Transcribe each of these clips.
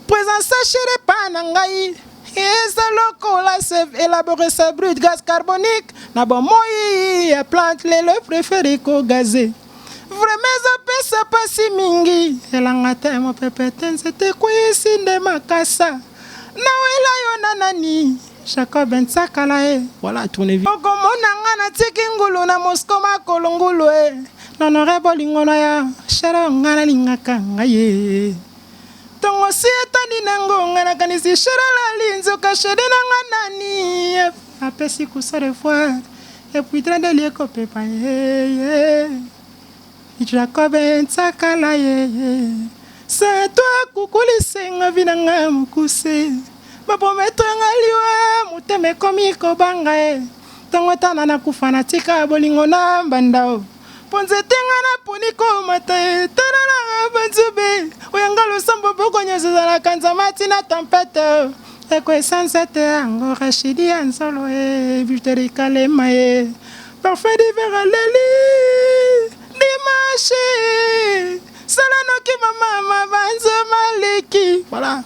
Présence chérie epa na ngai eza lokola elabore sa brut gaz carbonique na bomoi ya plante lelo prefere kogaze vraimen ezopesa pasi mingi elanga te mopepe te nzete ekweyisi nde makasa nawela yo na nani jacob nsakala e voilà tourne vie okomona nga natiki ngulu na mosco makolo ngulu e nonore bolingo na ya shere nga nalingaka ngai ye Tongo si etani na ngo nga na kanisi shera lali nzoka sheri na nga nani apesi kusa de fois et puis trandeli ekopepa ye ye Jacob nsakala ye ye c'est toi kukulise nga vi na nga mokuse baprometre nga liwa motema ekomi kobanga ye ntongo etana nakufa natika bolingo na mbanda o Po nzete nga na poni ko mata e tala na nga ba nzube oya nga losambo boko nyoso zala kanza mati na tempete eko esa nzete ya ngo rachidi ya nzolo e buteri kalema e parfait d'hiver à leli dimanche sala noki mama ma banzo maliki voilà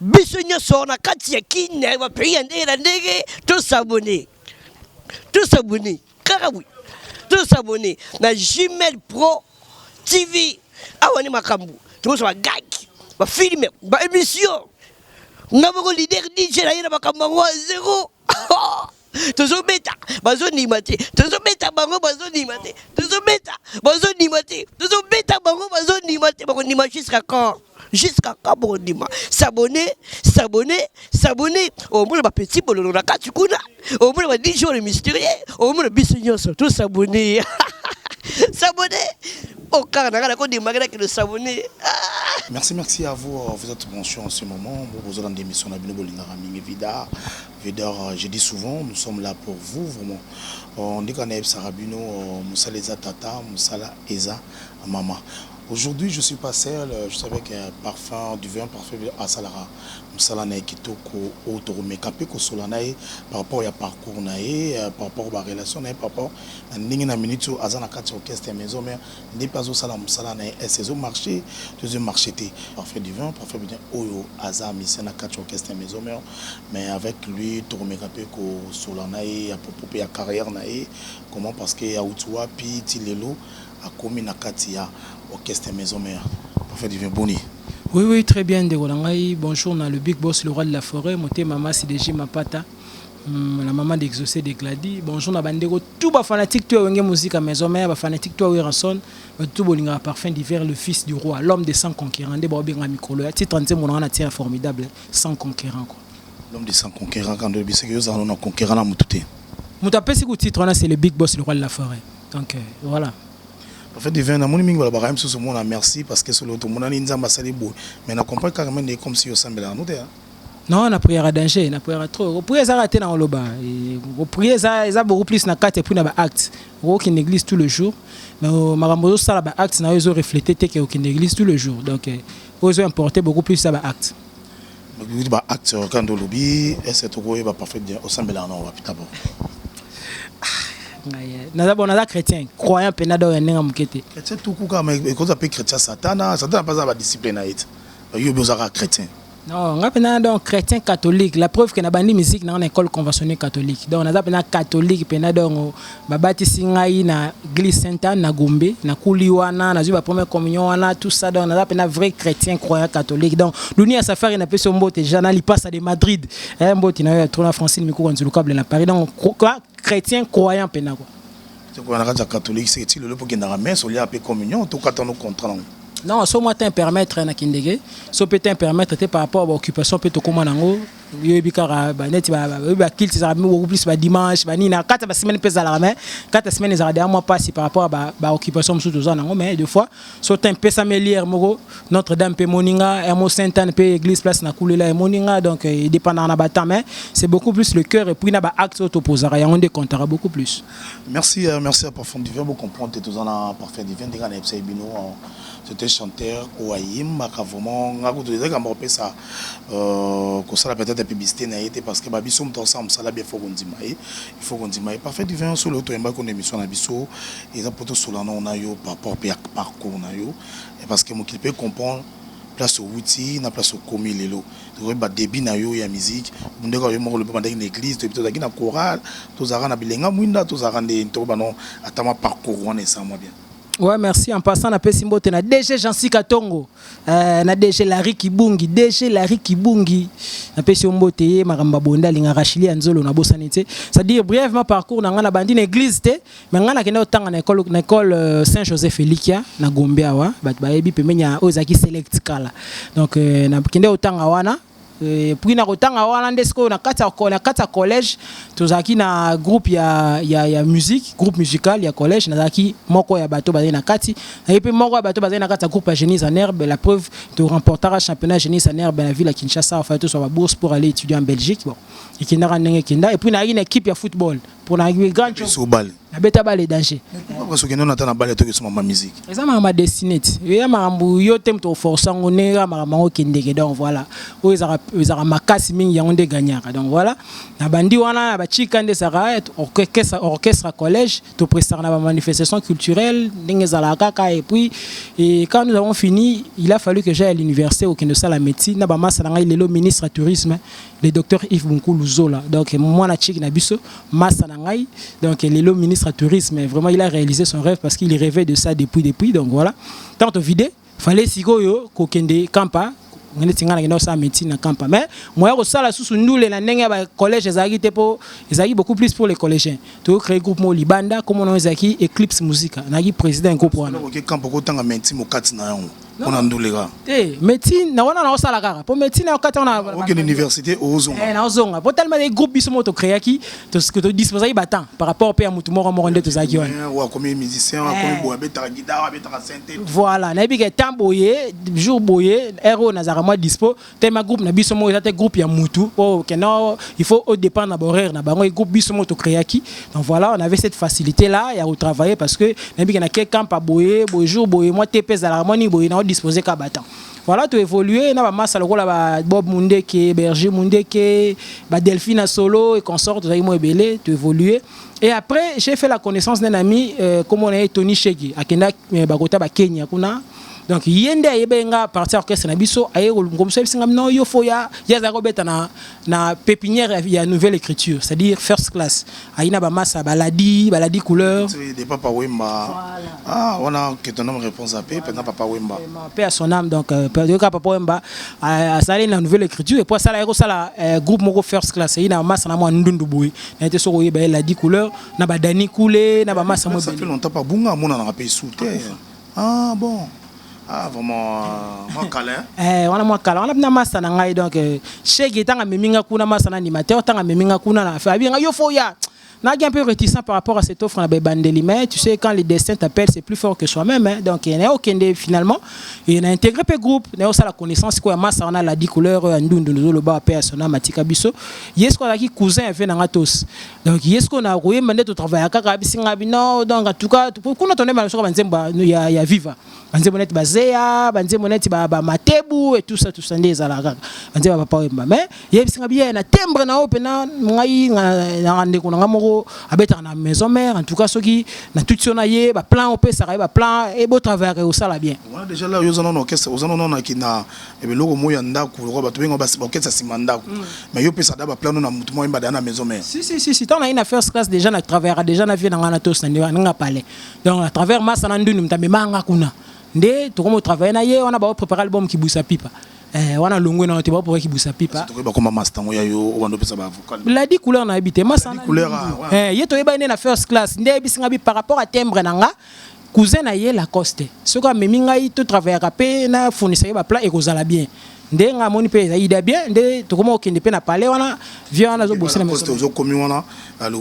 Biso nyonso na kati ya kin ya ba pays ya ndenge na ndenge to s'abonner. To s'abonner. Kaka boye. To s'abonner na Gmail Pro TV. Awa ni makambo. Tokozwa ba gag, ba films, ba émissions. Nga moko leader DJ na ye na makambo yango zero. tozobeta bazondima te tozobeta bango bazondima te tozobeta bazondima te tozobeta bango bazondima te bakondima jusqu'à quand jusqu'à quand bakondima s'abonne s'abonne s'abonne omona bapeti bololo na kati kuna omona ba 10 jours le mystérieux omona biso nyonso to s'abonne s'abonne okaka na ngai nakondimaki na kilo s'abonne Merci, merci à vous. Vous êtes branchés en ce moment. Vous vous rendez mission à Bino Bolingara Mingi Vida. Vedor je dis souvent nous sommes là pour vous vraiment nde kaka nayebisaka bino mosala eza tata mosala eza mama aujourd'hui je suis pas seul je suis avec parfum du vin parfum asalaka mosala na ye kitoko oyo tokomeka mpe kosola na ye par rapport ya parcours na ye par rapport ba relation na ye par rapport na ndenge na minute oyo aza na kati ya orchestre ya maison mère Ndepe azo sala musala na ye est ezo marche to ezo marche te. Parfait Divin, Parfait Divin oyo aza musicien na catch orchestre ya Maison Mère mais avec lui toko meka pe ko solola na ye à propos pe ya carrière na ye comment parce que awuti wapi ti lelo akomi na kati ya orchestre ya Maison Mère. Parfait Divin boni? Oui oui très bien ndeko na ngai bonjour na le big boss le roi de la foret motema masi de Jim mapata Hmm, la maman d'exaucé de Glady. Bonjour na bandeko tout ba fanatique toi wenge musique maison mère ba fanatique toi Werrason ba tout bolinga parfum d'hiver le fils du roi l'homme de sans conquérant de ba benga mikolo ya titre nzembo na na titre formidable sans conquérant quoi. L'homme de sans conquérant quand le bisque yo zalo na conquérant na mutute. Muta pesi ku titre na c'est le big boss le roi de la forêt. Donc euh, voilà. En fait, divin, na moni mingi bala bakayem sous mon merci parce que solo to monani nzamba sali boy. Mais na comprendre kaka mende comme si yo sambela nous te. Hein? Non na prière danger na prière trop ko prière ezaka te na oloba ko prière eza eza beaucoup plus na kati puis na ba actes ko kin église tout le jour mais oh, makambo zo sala ba actes na zo refléter te que au kin église tout le jour donc euh, ozo importer beaucoup plus ça ba actes lobi ba actes euh, quand lobi est-ce que toko ba parfait bien au sambela na wapi tabo euh, naza bon naza chrétien croyant pe na do ya nenga mukete chrétien tout kuka mais ko za pe chrétien satana satana pas za ba discipline na it yo bozaka chrétien Non, nga pena donc chrétien catholique. La preuve que na bandi musique na école conventionnelle catholique. Donc naza pena catholique pena donc babati singai na glisse Sainte Anne na Gombe, na kuli wana, na ba première communion wana, tout ça donc naza pena vrai chrétien croyant catholique. Donc dunia safari na peso mbote déjà na lipasa de Madrid. Eh mbote na yo ya trona Francine Mikuwa Nzulukable na Paris. Donc chrétien croyant pena quoi. Toko na kati ya catholique c'est ti lelo poke ndanga messe olia pe communion to kata no contrat nango. Non, so moi te permettre na kindege, so pe te permettre te par rapport à occupation pe to koma nango yoyebi kaka baneti bayebi bakilte ezalaka beaucoup plus badimanche banini na kati ya basemaine mpe ezalaka mai kati ya semaine ezalaka deja mwa mpasi par rapport ya baoccupation mosusu toza nango mai de fois so te mpesami eliere moko notre dame mpe emoni nga yamo saint anne mpe église place na kulela emoni nga donc edépendaka na batemps mai c'est beaucoup plus le cœur epuis na baacte oyo topozaka yango nde comptaka beaucoup plus Merci euh, merci à Parfum Divin bo comprendre te toza na Parfum Divin ndenge na yebisa bino euh, c'est un chanteur oyo ayembaka vraiment nga kutu ezalaki kamba kopesa euh, kosala peut-être publicité na ye te parce que ba biso moto asala mosala bien faut kondima ye il faut kondima ye Parfum Divin solo oyo toyembaki kuna émission na biso eza mpo tosola nao na yo par rapport mpe ya parcours na yo parce que mokili mpe comprendre place owuti na place okomi lelo toyebi ba debut na yo ya musique bundaka yo moko lobi obandaki na église toyebi tozalaki na chorale tozalaka na bilenga mwinda tozalaka nde ntoko bano ata mwa parcours wana esala mwa bien Ouais, merci. En passant, na pesi mbote na DG Jean-Cy Katongo, euh, na DG Larry Kibungi, DG Larry Kibungi, na pesi yo mbote ye makambo ya bonda linga rachili ya nzolo na bosani te. C'est-à-dire brièvement parcours na nga na bandi na église te, me ngai nakenda kotanga na ekole na ekole euh, saint joseph elikia na gombe awa bato bayebi pembeni ya oyo ezalaki select kala donc euh, nakende kotanga wana euh, puis na kotanga wana nde sikoyo na kati ya collège tozalaki na groupe ya, ya, ya musique groupe musical ya collège nazalaki moko ya bato bazali na kati naye mpe moko ya bato bazali na kati ya groupe ya génise en herbe la preuve to remportaka championnat génise en herbe na ville ya kinshasa afai tozwa babourse pour aller étudier en belgique bon ekendaka ndenge ekenda epuis nayaki na équipe ya football pona ye grand chou so bale na beta bale danger pourquoi parce que non ata na bale to kesuma ma musique eza ma ma destinée yo ya makambu yo te mto forcer ngo ne ya makambu ngo kendeke donc voilà o ezaka ezaka makasi mingi yango nde gagnaka donc voilà na bandi wana na ba chika nde saka eh, orchestre orchestre collège to prestaka na ba manifestation culturelle ndenge zala kaka et puis et quand nous avons fini il a fallu que j'aille à l'université au Kendo sala médecine na ba massa na ngai lelo ministre tourisme le docteur Yves Bunkulu Zola. Donc, moi, la tchik nabiso, massa nangai. Donc, il est le ministre du tourisme. Vraiment, il a réalisé son rêve parce qu'il rêvait de ça depuis, depuis. Donc, voilà. Tant au vide, fallait si yo, kokende, kampa, ngende tingana ngende osala médecine na kampa mais moya kosala susu ndule na ndenge ya bacollège ezalaki te mpo ezalaki beaucoup plus pour les collégiens toyo créé groupe moko libanda komona ezalaki éclipse musica nayaki président ya groupe wana kampa okotanga médecine mokati na yango mpo na ndule kaka te médecine na wana naosala kaka mpo médecine na okati wana okende université ozonga eh, naozonga mpo talima ezali groupe biso moko tocréaki todisposaki batemp par rapport mpe ya motu moko moko nde tozalaki wanaokomi musicien akomi eh. boye abetaka gidar abetaka sente voilà nayebi ke temps boye jour boye heure oyo nazalaka mwa dispo tellement groupe na biso moko eza te groupe ya mutu oh que non il faut au dépend na horaire na bango et groupe biso moko to créaki donc voilà on avait cette facilité là ya retravailler parce que na biki na ke camp à boyer boy jour boyer moi te pèse la moni boyer na disposer ka battant voilà tu évoluer na ba massa lokola ba Bob Mundeke Berger Mundeke ba Delphine solo et consort tu moi belé tu évoluer et après j'ai fait la connaissance d'un ami euh, comme on est Tony Shegi akenda euh, bakota ba Kenya kuna donc ye nde ayebaki nga parti ya orchestre na biso aye kolongomisa bisinga no yo fo ya ye azalaki kobeta na, na pépinière ya, ya nouvelle écriture c'est à dire first class ayi na bamasa baladi baladi couleur de papa wemba voilà. ah wana que ton homme réponse à paix pendant papa wemba paix à son âme donc euh, yoka papa wemba euh, asali na nouvelle écriture et puis asala yako sala euh, groupe moko first class ayi na masa na mwa ndundu boye na ete soko yeba ye ladi couleur na badani kule na bamasa mwa ça fait longtemps pas bunga mona na pe sous terre Ah bon Ah vraiment euh, mwa kala hein? Eh, wana mwa kala wana na masta na ngai donc euh, shege ntango amemi ngai kuna masta na animateur ntango amemi ngai kuna na affaire abi ngai yo fo ya naki un peu réticent par rapport à cette offre na baebandeli mais tu sais quand le destin t'appelle c'est plus fort que soi-même hein. donc eh, naye okende finalement et na intégré mpe groupe naye osala connaissance sikoyo ya masta wana ladi couleur ya ndundu nozoloba mpe ya sona matika biso ye sikoyo azalaki cousin ya vie na ngai tous donc ye sikoyo na koyemba nde totravaya kaka abisi ngai bino donc atuka kuna tondemba soka banzembo ya, ya viva banzembo neti bazeya banzembo neti bamatebu ba etusa tusa nde ezalaka kaka banzembo bapapa oyemba mais yebisi ngai biye na tembre na oyo mpena ngai na ndeko na ngai moko abetaka na maison mère en tout cas soki na tuti yo na ye baplan opesaka ye baplan ebotravayaka ekosala bien wana deja la yo oza nano orchestre oza nano na ya biloko moi ya ndako lokola bato benga basi baoketisa nsima ndako mm. mais yo pesa da baplano na motu moko yembada na maison mère si si si si ntango naye na first class déjà na travaillaka déjà na vie na ngai na tosa nde wana nga palais donc à travers masa na nduni moto amemaka nga kuna nde tokomi otravaille na ye wana baoprépare album kibusa pipa Eh, wana longwe na te ba pour kibusa pipa to ba koma master ngo ya yo obando pesa ba vocal la di couleur na ebite masa couleur ah, eh yeto yeba ne na first class nde bisinga bi par rapport à timbre na nga Cousin na ye Lacoste soki amemi ngai to travaillaka pe na fournisa ye ba plats ekozala bien nde nga amoni pe eza ida bien nde tokoma kokende pe na palais wana vieux wana azo bosana maison mère. Ozo komi wana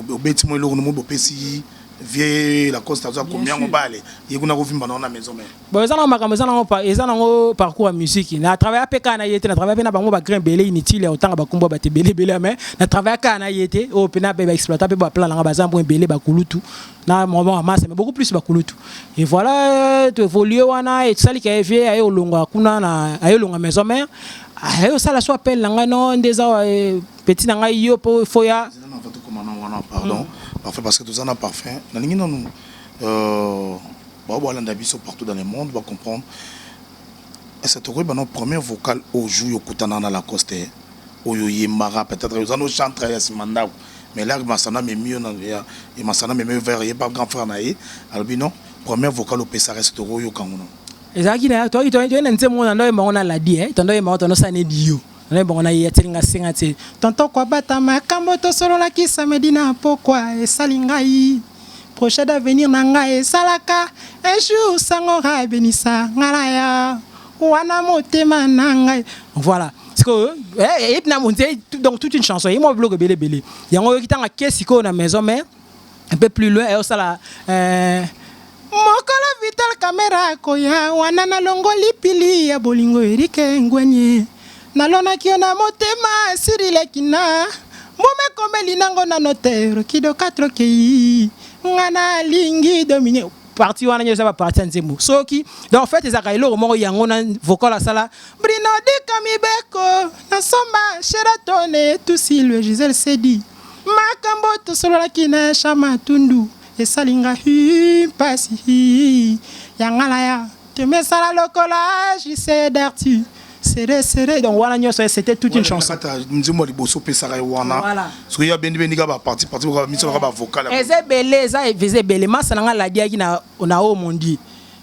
obeti mwa eloko na mwa bopesi vieux Lacoste azo akomi yango bale ye kuna ko vimba na wana maison mère. Bon eza na makambo eza na ngo eza na ngo parcours ya musique na travailla pe ka na ye te na travailla pe na bango ba grand ebele inutile ya kotanga ba kombo ya batu ebele ebele mais na travailla ka na ye te oyo pe na ba exploita pe ba plats na nga baza mwa ebele ba kulutu na mama wa masa mais beaucoup plus bakulutu et voilà euh, tu évolue wana et sali ka vie ayo longa kuna na ayo longa maison mère ayo sala so appel na ngai non ndeza euh, petit na ngai yo po foya pardon mm. parfait parce que toza na parfum nalingi nanu euh, bao balanda biso partout dans le monde bacomprendre Est ce que tokoyeba no première vocal oyo jour yo kutanaka na Lacoste oyo oyembaka peut etre oza no chantre ya sima ndaku mais laki masano amemi yo na ya et masano amemi yo vers ye pa grand frère na ye alobi no première vocal opesaka est ce que tokoyoka ngo no ezalaki na toki toki na nzembo na ndoye bango na ladi eh tondo ye bango tondo sane dio na bango na ye ya tselinga senga tse tonto kwa bata makambo to solo la kisa medina pokwa esali ngai Projet d'avenir na nga esalaka Un jour sango ra benisa nga na ya Wana motema na nga Voilà sikoyo eh, eyebi na monze donc toute une chanson eyemwa biloko ebele ebele yango oyoki ntango ake sikoyo na maison mère un peu plus loin ayosala euh, mokolo vital kamera akoya wana nalongoli pili ya bolingo erike ngwenye Nalonaki yo na motema esili leki na mbuma ekomeli nango na notaire kido katro kei nga nalingi domine parti wana nyo eza ba parti ya nzembo soki donc en fait ezalaka eloko moko yango na vocal asala brino dika mibeko na somba sheratone tusilwe gisele sedi makambo tosololaki na shama tundu esali nga hi mpasi hi ya ngala ya Tu me sala lokola JC Darty sere sere donc wana nyonso ye c'était toute une chanson ata nzembo ya liboso opesaka ye wana soki ya bendi bendi kaka baparti parti kaka miso kaka bavokale eza ebele eza eza ebele masa na ngai ladiaki na na o mondi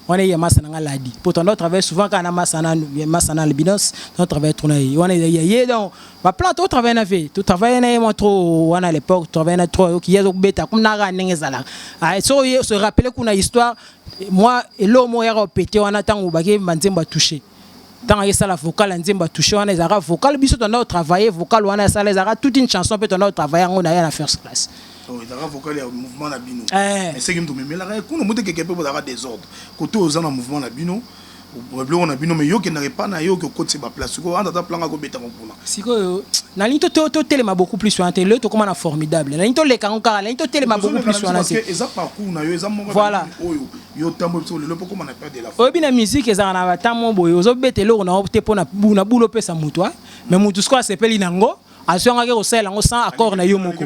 wana ye masa na ngai ladi mpo ton doit travailler souvent kaka na masa na masa na albinos ton travaille trop na ye wana ya ye donc baplan to travaille na ve to travaille na ye mwa trop wana à l'époque travaille na trop oyoki ye azokobeta kuna kaka ndenge ezalaka soki se rappeler kuna histoire mwa eloko moko yaka opete wana ntango bakeyemba nzembo ya touche ntango ayesala vocal ya nzembo ya touche wana ezalaka vocal biso tonda kotravaille vocal wana asala ezalaka toute une chanson mpe tonda kotravaille yango na ye na first class oh, ezalaka vocal ya mouvement na bino eh. eseki moto memelaka ye kuna motekeke mpe bozalaka desordre koto oza na mouvement na bino biloko na bino mais yo kendaka epa na yo okokotisa ba place sikoyo anza ata planga kobetaka kuna sikoyo nalingi totelema beaucoup plus wana te lelo tokóma na formidable nalingi toleka yango kaka nalingi totelema beaucoup plus wana te eza parcours na yo eza moko voilà oyo yo otamboli biso lelo mpo okóma na perte de la oyebi na musique ezalaka na batamo boye ozobeta eloko na yo te mpo na bulo opesa moto mais moto sikoyo asepeli na yango azwangaki kosalela yango sans accord na yo moko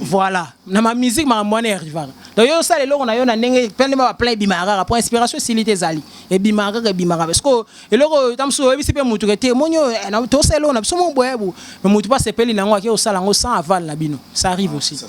voilà na ma musique makambo wana erivaka donc yo osala eloko na yo na ndenge pende ma baplan ebimaka kaka mpo inspiration esili te ezali ebimaka kaka ebimaka parce que eloko oyo ta mosusu oyebisi mpe motu ke te moni oyo eh, tosala eloko na biso mo boye bo me motu mpe asepeli na yango ake osala yango sans aval na bino ça arrive ah, aussi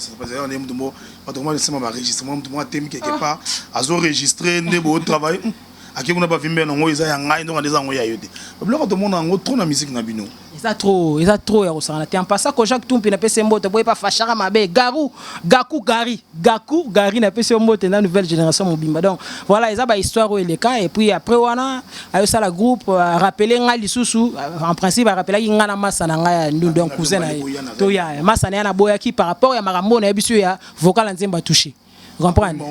bato koma nsima baregistre mwa motu mwa temi quelque ah. part azoregistre nde botravaille ake kuna bavimbe yango eza ya ngai ndonga nde eza yango ya yo te biloko tomona yango trop na musique na bino eza trop eza trop ya kosangana te en passant koja kutumpi na pese mbote boye pa fashaka mabe garu gaku gari gaku gari na pese mbote na nouvelle génération mobimba donc voilà eza ba histoire oyo eleka et puis après wana ayo sala groupe euh, rappeler nga lisusu euh, en principe a rappelaki nga na masa na nga ya ndu donc cousin na ye to ya masa na ya na boyaki par rapport ya makambo na ye biso ya vocal nzemba toucher comprendre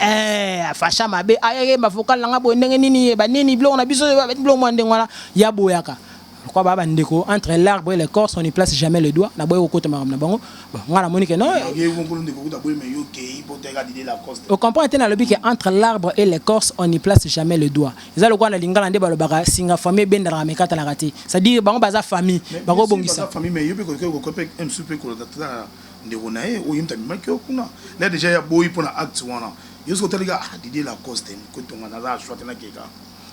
eh afasha mabe ayemba vocal nanga boye ndenge nini yeba nini biloko na biso biloko mwa ndenge wana ya boyaka kwa ba bandeko entre l'arbre et le corps on ne place jamais le doigt na boye kokota makambo na bango bon nga na moni que non au comprendre te nalobi que entre l'arbre et le corps on ne place jamais le doigt eza lokola na lingala nde balobaka singa famille ebendaka mekatanaka te c'est à dire bango baza famille bakobongisa Ndeko naye oyo ye mutu amemaki yo kuna naye dejà ye aboyi pona acte wana yo soki otali kaka ah Didier Lacoste ko tonga na la joie te na keka.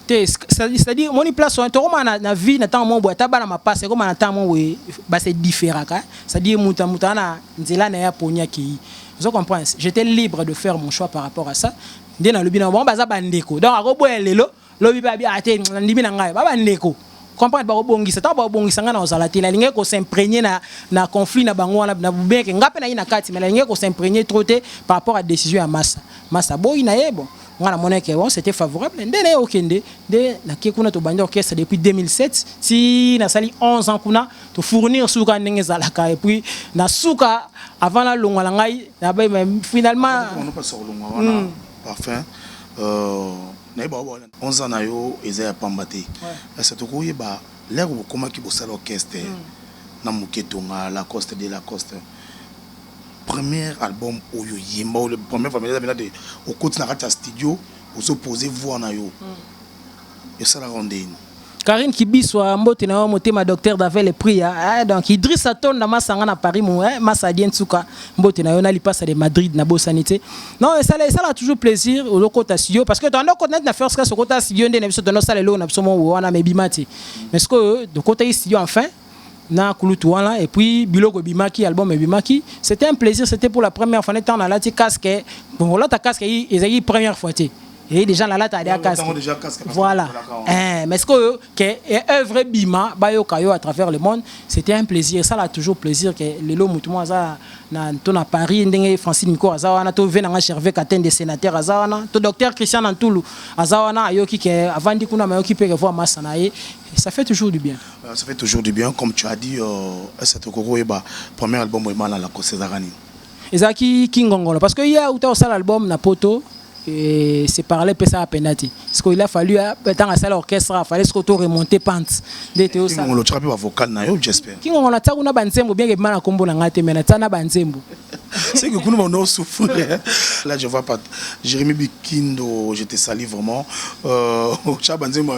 Te c'est à dire omoni place wana tokoma na na vie na tango moko boye ata bana mapasa ekoma na tango moko boye ba se differaka c'est à dire mutu mutu ana nzela naye aponi akeyi ozo comprendre j'etais libre de faire mon choix par rapport à ça nde nalobi na bango baza ba ndeko donc akoboya lelo Lobi pe abi ate nandimi na ngai ba ba ndeko comprendre bako bongisa tango bako bongisa ngai nako zala te na lingaki ko s'impregner na na conflit na bango wana na bien ke ngai pe naye na kati mais na lingaki ko s'impregner trop te par rapport a decision ya masta masta aboyi na ye bon nga na mona ke bon c'était favorable nde naye okende nde na ke kuna tobandi orchestre depuis 2007 ti na sali 11 ans kuna to fournir suka ndenge ezalaka et puis na suka avant na longwa na ngai na ba finalement parfum euh 11 ans na yo eza ya pamba te kasi tokoki koyeba l'heure bokomaki bosala orchestre na muke tonga lacoste de lacoste première album oyo oyemba oyo première fois eza penza te okoti na kati ya studio ozo poser voix na yo esalaka yo ndenge nini? Karine Kibiswa mbote na yo motema docteur Davele Priya eh, donc Idriss Atonda masanga na Paris mo eh, masa dien tsuka mbote na yo na lipasa de Madrid na bosani te non esala esala toujours plaisir olokota studio parce que tanda okota net na first class okota studio nde na biso tanda osala eloko na biso mo wana mais bimati mais sikoyo dokota yi studio enfin na kulutu wana et puis biloko ebimaki album ebimaki c'était un plaisir c'était pour la première fois ne temps nalati casque bon olata casque ezalaki première fois te et déjà la lata alia casque voilà eh mais ce que que œuvre bima bayoka yo à travers le monde c'était un plaisir ça l'a toujours plaisir que lelo mutu moi aza na to na Paris ndenge Francine Miko aza wana to vena nga Gervais Katende sénateur aza wana to docteur Christian Antulu aza wana ayoki que avandi kuna mayoki pe que voix massa na ye ça fait toujours du bien euh, ça fait toujours du bien comme tu as dit euh, cette kokoko yeba premier album emana la kosezarani ezalaki kingongono parce que ye auta kosala album na poto et se parler mpesa apenda te siko il a fallu ntango asala orchestre afale siko to remonte pante nde toyosala otyaka mpe bavocal na yo j'espère kingongo na tia kuna banzembo bien ebima na nkombo na ngai te me na tia na banzembo c'est que kuna bana osouffrir là je vois pas jérémi bikindo je te sali vraiment euh, otya banzembo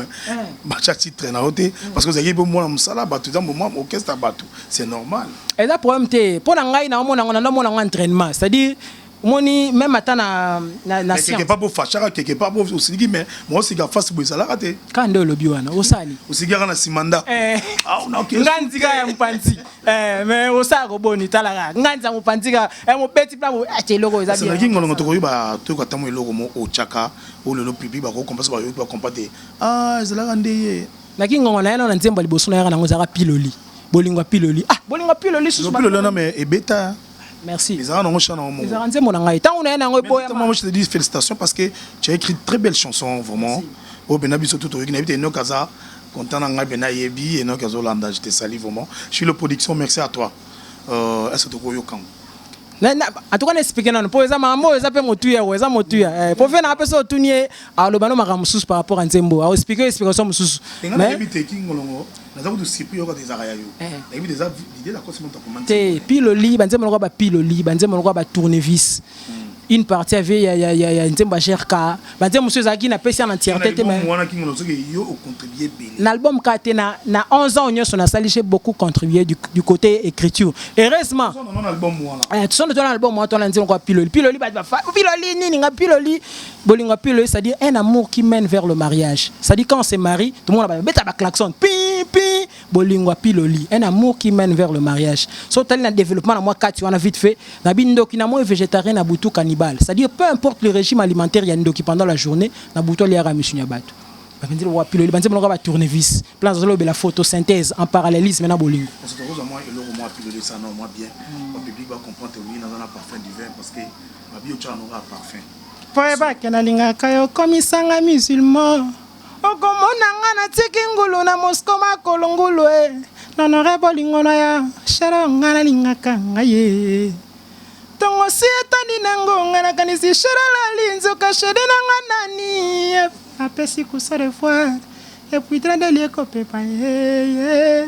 batya titre na yo te parce que ozalaki mpe mwana mosala bato eza moma orchestre ya bato c'est normal eza problème te mpo na ngai naomona ngo naomona ngo entraînement c'est à dire omoni même ata na na, na quelque part bofashaka quelque part osiliki mais mosika fasi boye ezalaka te kaka nde olobi wana osali osikaka na nsima ndako eh. ah, nga nzika ya mopanzi eh, mais osala koboni talaka nga nza mopanzi ka eh, mobeti mpe aty eloko ezalaki ngolongo tokoyeba toyoka ntango eloko mo otyaka oyo lelo pipi bakokompa so bayoki bakompa te ah, ezalaka nde ye Na ki ngonga na ye na nzembo ya liboso na yaka na ngo ezalaka piloli. Bolingo ya piloli. Ah bolingo ya piloli susu. Piloli wana me ebeta. Merci. Ezalaka na ngo chant na ngo moko. Ezalaka nzembo na ngai. Tango na ye na ngo eboya. Moi je te dis félicitations parce que tu as écrit très belle chanson vraiment. Oyo bena biso tout oyoki na bite Enoch aza content na ngai bena yebi Enoch azo landa je te salue vraiment. Je suis le production merci à toi. Euh, est-ce que toko yoka ngo? Na, na, en tout cas na expliquer nanu po eza makambo oyo eza pe motuya oyo eza motuya eh, po vie na pe so otuni ye aloba no makambo mosusu par rapport à nzembo au expliquer explication mosusu Enga na mais yebi te kingolongo naza kutu surpris yoka te ezalaka ya yo Eh. na yebi te eza idée na kosi moto akoma nzembo te na- piloli banzembo lokola bapiloli banzembo lokola batournevis une partie ya vie ya, ya, ya, ya nzembo ya grk Badia mosusu ezalaki na pesi en entièreté te mais wana kimono soki yo o contribuer bele. Na album ka te na na 11 ans nyonso na sali j'ai beaucoup contribué du, du côté écriture. Heureusement. Sono na album wana. Eh tu sono na album wana tona nzino kwa piloli. Piloli ba ba piloli nini nga piloli bolingo piloli ça dit un amour qui mène vers le mariage. Ça dit quand on se marie tout le monde va beta ba klaxon. Pi pi bolingo ya piloli un amour qui mène vers le mariage so tali na développement na mwa kati wana vite fait na bindoki na moi végétarien na butu cannibale c'est à dire peu importe le régime alimentaire ya ndoki pendant la journée na butu aliaka misuni ya bato bapenzi lokola piloli banzembo lokola ba tournevis plan azolobela photosynthèse en parallélisme na bolingo parce que okozwa mwa eloko mwa piloli sana mwa bien ba public ba comprendre oui naza na parfum du vin parce que babi otyaka noko ya parfum po ebake nalingaka yo komisanga musulman okomona nga na tiki ngulu na mosko makolo ngulu e nonore bolingo na ya shero nga nalingaka nga ye ntongo si etani na ngo nga nakanisi shero alali nzoka sheri na nga nani apesi kusa de fois epuis tradeli ekopepa ye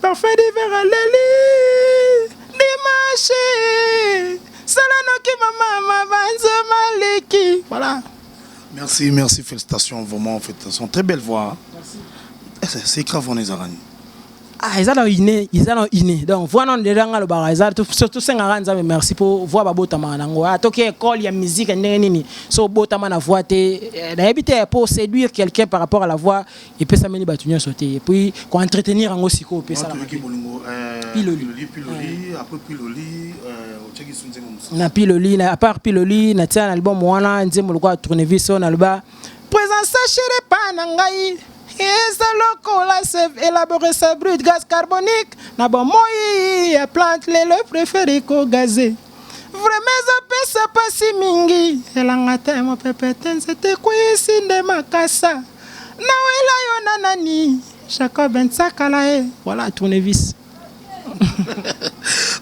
Parfum d'hiver aleli dimanche sala noki mama mabanzo maleki voilà Merci, merci, félicitations, vraiment, félicitations. Très belle voix. Merci. C'est grave, on est à Rani. ah eza na ine eza na ine donc voix nano ndela nga alobaka eza to- so- tosengaka nzambe merci mpo voix babotamaka nango Ah, toki école ya musique ya ndenge nini so obotama na voix te eh, nayebi te mpo séduire quelqu'un par rapport à la voix epesameli bato nyonso te et puis ko entretenir yango sikoyo opesa na mabe piloli na piloli na apart piloli na tia na album wana nzembo lokola tournevis oyo naloba présence chérie epa na ngai eza lokola save élaboré sa brut gaz carbonique na bomoi ya plante lelo préféré ko gaze Vraiment eza pesa pasi mingi elanga te mopepe te nzete ekweyisi nde makasa nawela yo na nani Jacob Nsakala e voilà tournevis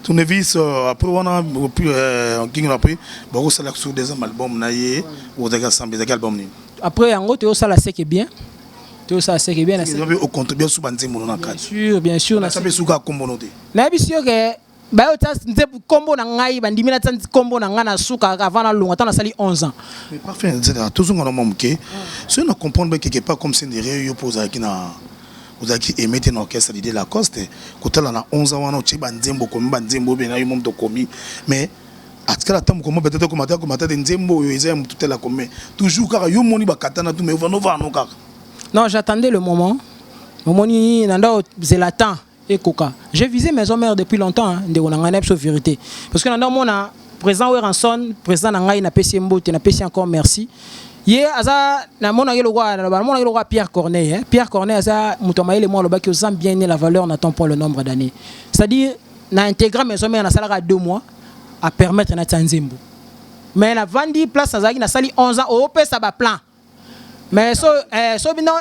tournevis euh, après wana euh, nkingi après bakosala sur deuxième album na ye ozalaki asambe ezalaki album nini après yango toyosala seke bien toyosala seke bien okontribue suba nzembo no na kati bien sûr bien sûr nayebi si yo ke bayo tsa nze kombo na ngai bandimi na tsa kombo na ngai na suka avant na longa tana sali 11 ans mais parfait nzela tozo ngona mwa moke so na comprendre ba quelque part comme c'est derrière yo poza ki na ozalaki emete na orchestre dide lacoste kotala na 11 ans wana otie banzembo okomi banzembo obe na yo momo tokomi mais atikala ata mokoma betata komata komata te nzembo oyo eza ya motu tela kome toujours kaka yo omoni bakatana tu mais ovanovano kaka non j'attendais le moment omoni na ndao zela temps ekoka je vise maison mère depuis longtemps hein, ndeko na ngai na biso verite parce que na ndako mona président Weranson président na ngai na pesi mbote na pesi encore merci ye aza na mona yelo kwa na mona yelo kwa Pierre Corneille hein? Pierre Corneille aza moto ya mayele mwa lobaki ozam bien né la valeur n'attend point le nombre d'années c'est-à-dire na intégra maison mère na salaka 2 mois à permettre na tsanzembo mais na vandi place azalaki na sali 11 ans au pesa ba plan mais so eh, so bino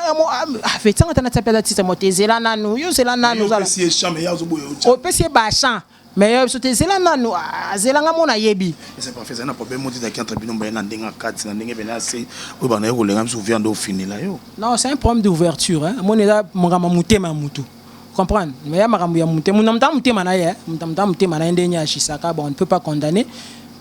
afetanga eh, tana tsape la tisa mote zela nanu yo zela nanu zala opesi ye champ mais yazo boye otia opesi ye ba champ mais yo biso te zela nanu azela nga mona yebi c'est pas fait ça na problème moti ta kiantre bino mbaye na ndenga kati na ndenge bena se oyo bana yo kolenga biso viande au fini la yo non c'est un problème d'ouverture hein mona eza mongama mutema mutu comprendre mais ya makambo ya moto moto na moto motema na ye moto na moto motema na ye ndenge agisaka bon on ne peut pas condamner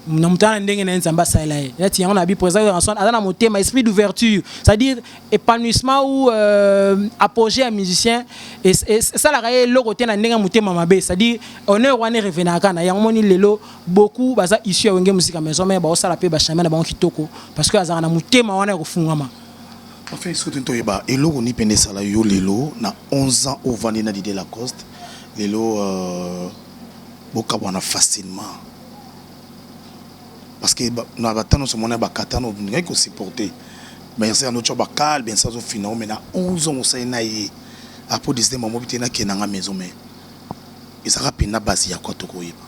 na moto na ndenge na ye nzambe asalela ye neti yango na bi président Johnson aza na motema esprit d'ouverture c'est-à-dire épanouissement ou euh, apogée ya musicien esalaka ye eloko te na ndenge ya motema mabe c'est-à-dire honneur wana erevenaka na yango moni lelo beaucoup baza issue ya wenge musika maison mais baosala mpe bachame na bango kitoko parce que azalaka na motema wana ya kofungama Enfin biso te toyeba eloko ni pende esala yo lelo na 11 ans ovandi na Didier Lacoste lelo euh, bokabwana facilement parce que na batano nyonso mona bakatano ngai kosupporte merci ya noco bakal bien ça azofina mais na 11 ans osali na ye apres 19 amobi te nakenda nga maison mais ezalaka mpenza basi ya kwa tokoyeba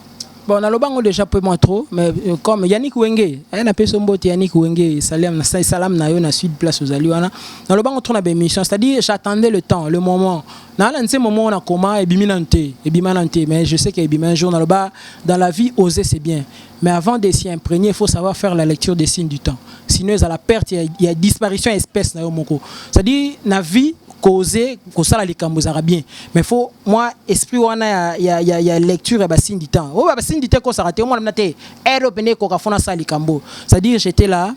Bon, na lobango déjà peu moins trop, mais euh, comme Yannick Wenge, eh, na peso mbote Yannick Wenge, salam na salam na yo na sud place aux Aliwana. Na lobango trop na ba émission, c'est-à-dire j'attendais le temps, le moment. Na la nse moment na koma et biminante, et bimanante, mais je sais que et bimin jour na loba dans la vie oser c'est bien. Mais avant de s'y imprégner, il faut savoir faire la lecture des signes du temps. Sinon, à la perte, il y a, il y a disparition espèce na yo moko. C'est-à-dire na vie cause kosala likambo ezalaka bien mais faut mwa esprit wana ya, ya, ya, ya lecture ya basine du temps oyo basine du temps ekosaka te omona mna te ere mpenza ekoka fona asala likambo c'est à dire j'étais là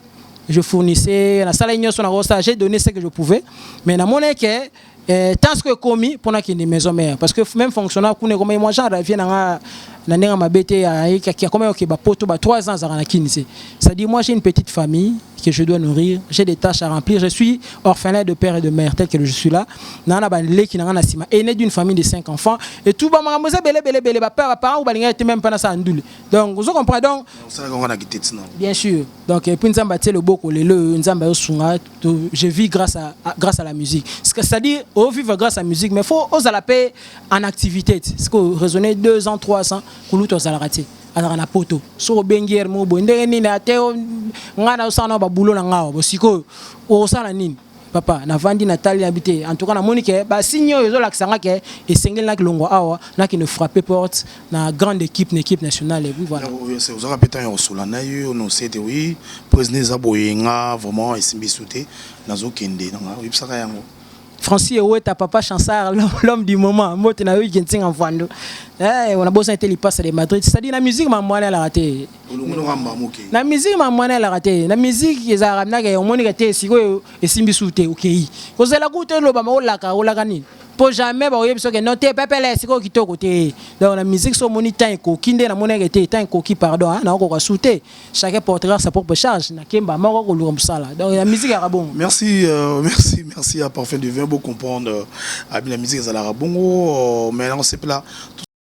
je fournissais nasalaki nyonso nakosala j'ai donné ce que je pouvais mais namonai ke eh, temps ko ekomi mpo nakende maison mère parce que même fonctionnaire kuna ekomaki mwa genre vie na nga na ndenge ya mabe te ayekaki akomaki kokeba poto ba 3 ans azalaka na kini se c'est-à-dire moi j'ai une petite famille que je dois nourrir j'ai des tâches à remplir je suis orphelin de père et de mère tel que je suis là na na baleki na nga na sima aîné d'une famille de 5 enfants et tout ba makambo eza bele bele bele ba père ba parents balingaki te même pas na sa ndule donc vous comprenez donc bien sûr donc et puis nzambe atie loboko lelo nzambe ayosunga to je vis grâce à, à grâce à la musique c'est à dire au vivre grâce à musique mais faut aux à la paix en activité ce que raisonner 2 ans 3 ans kuluto aux à la raté azalaka na poto soki obengi ere moko boye ndenge nini ate ngai nazosala na babulo na ngai bo sikoyo okosala nini papa navandi natali nabi te en tout cas namoni ke basigne oyo ezolakisa ngai ke esengeli nakilongwa awa nakende frappe porte na grande équipe na équipe nationale et puis voilà oyo c'est ozaka pe temps ya kosola na yo on sait que oui poison eza boye nga vraiment esimbi sute nazo kende na nga oyebisaka yango Francis Eweta papa Chansar l'homme du moment mbote na yo Genting en Vando eh on a besoin de lipasa de Madrid c'est à dire la musique m'a mwana la raté na musique m'a mwana la raté na musique ezalaka na ke omoni ke te sikoyo esimbi sute okay kozela kutu eloba ma olaka olaka nini po jamais bakoyebi biso ke non te pepele sikoyo kitoko te donc na musique so omoni temps ekoki nde namonaki te temps ekoki pardon hein, nakokoka su te chacun portera sa propre charge na kemba moko koluka mosala donc ya musique yaka bongo merci euh, merci merci ya parfum de vin bo comprendre euh, abi na musique ezalaka bongo euh, mais nakosepela